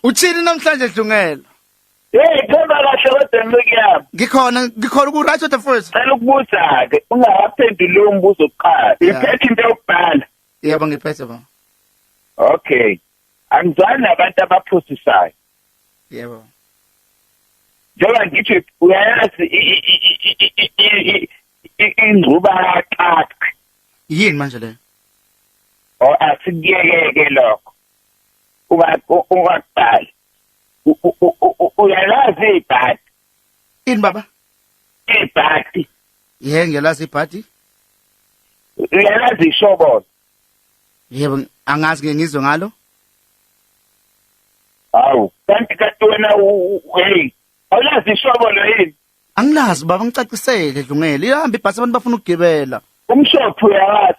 Uthini namhlanje Dlungela? Hey, phela kahle kodwa ngikuyami. Ngikhona, ngikhona ku right the first. Cela ukubuza ke, ungawaphenduli lo mbuzo kuqala. Iphethe into yokubhala. Yebo ngiphethe ba. Okay. Angizwani nabantu abaphusisayo. Yebo. Njengoba ngithi uyayazi ingcuba yaqaqa. Yini manje le? Oh asikuyeke lokho. ungaqali uyalazi ibhadi ini baba ibhadi ye ngiyalazi ibhadi uyalazi ishobolo yebo angazi ke ngizwe ngalo hawu kanti kanti wena hey awulazi ishobolo yini angilazi baba ngicacisele dlungele ihamba ibhasi abantu bafuna ukugibela umshophi uyawazi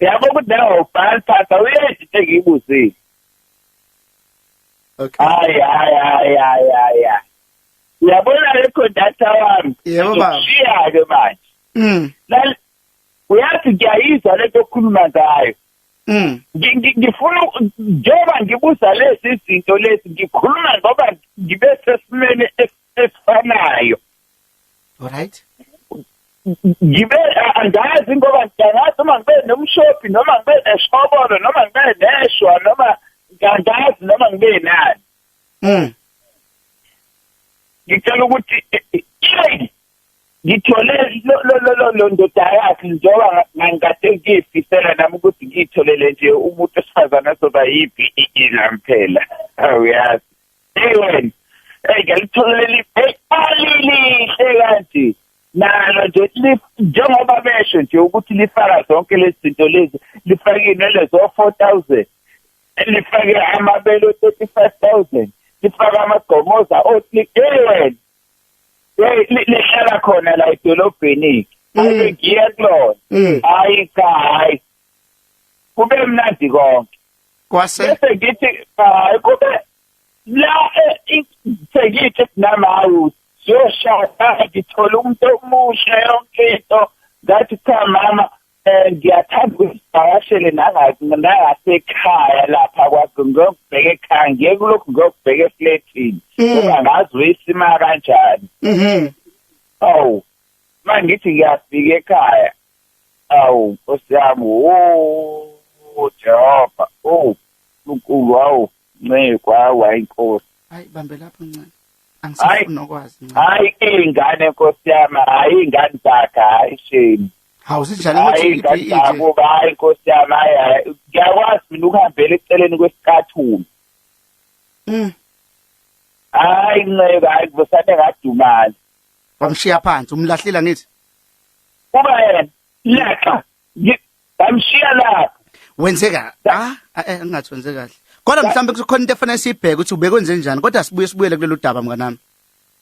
Yabo kudawo bhal phatha uyejithe ngibuzile. Okay. Hayi hayi hayi hayi hayi. Uyabona le conductor wami. Yebo baba. Shiya ke manje. Mm. Lal uyathi ngiyayizwa lento okhuluma ngayo. Mm. Ngifuna njengoba ngibuza lezi zinto lezi ngikhuluma ngoba ngibe sesimene esifanayo alright ngibe andazi ngoba ngiyangazi uma ngibe nomshophi noma ngibe neshobolo noma ngibe neshwa noma ngiyangazi noma ngibe nani mm ngicela ukuthi eh, eh, eh, ngithole lo lo lo lo ndoda yakhe njengoba ngangikade ngiyifisela nami ukuthi ngiyitholele nje umuntu osifazana soba yipi ilamphela awuyazi hey wena hey ngalithola leli alilihle kanti nalo nje njengoba besho nje ukuthi lifaka zonke lezi zinto lezi lifake inwele zo-four thousand lifake amabele o-thirty five thousand lifake amagqomoza o-three hey wena lihlala khona la edolobheni ayibe mm. ngiye kulona mm. hayi cha hayi kube mnandi konke Kwase bese ngithi hayi kube la eh, sengithi namawu siyoshada ngithola umuntu omusha yonke into ngathi cha mama eh, ngiyathanda ukuzivakashele nangasekhaya lapha kwakho ngiyokubheka ekhaya ngiye kulokhu ngiyokubheka efletini mm. ungangazi uyisima kanjani mm-hmm. awu mangithi ngiyafika ekhaya Awu Nkosi yami wo Jehova oh uNkulunkulu wawu nceku hawu hayi Nkosi hayi bambe lapho ncane angisafuni nokwazi ncane hayi ingane Nkosi yami hayi ingane zakhe hayi shame hawu sinjani ukuthi ingane zakho hayi Nkosi yami hayi ngiyakwazi mina ukuhambela eceleni kwesikathumi mm hayi nceke hayi kusane ngadumala wamshiya phansi umlahlile ngithi kuba yena laxa ngamshiya lapho wenzeka ah engathi eh, wenze kahle kodwa mhlawumbe kukhona into efanele siyibheke ukuthi ubekwenze njani kodwa sibuye sibuyele kulelo daba mnganami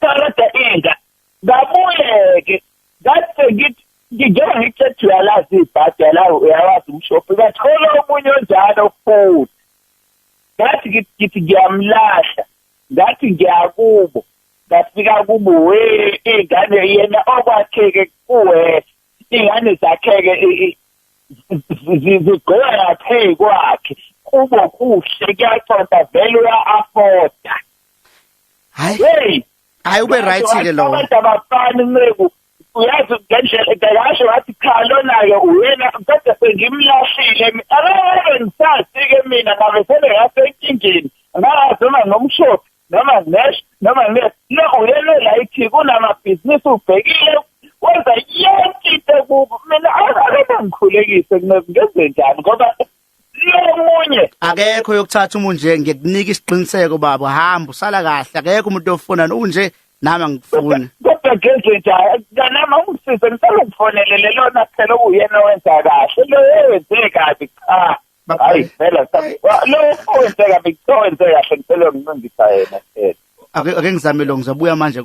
kodwa inga ngabuyeke ngathi ngithi ngijoba ngithethe uyalazi ibhadi yalazi uyawazi umshophi ngathola omunye onjalo futhi ngathi ngithi ngiyamlahla ngathi ngiyakubo ngafika kubo we ingane yena okwakheke kuwe ingane zakheke zigqoka ngaphe kwakhe kubo kuhle kuyaconta vele uya-afoda hayi hayi ube right ke lowo abantu abafani nceku uyazi ngendlela ekayasho wathi cha lona-ke uyena kodwa sengimlahlile akayeke ngisazi-ke mina ngabe sebengasenkingeni ngazi noma ngomshophi noma nginesh noma ngine no uyena layithi kunamabhizinisi ubhekile wenza yonke into kubo mina akeke ngikhulekise ngenze njani ngoba omunye akekho yokuthatha umuntu nje ngikunika isiqiniseko baba hamba usala kahle akekho umuntu ofuna unje nami angikufuni kodwa geze nje kanama usise ngisala ukufonelele lona phela uyena wenza kahle lo yenze kabi cha hayi phela lo wenze kabi cha wenze kahle ngicela ngincindisa yena phela ake ngizame lo ngizobuya manje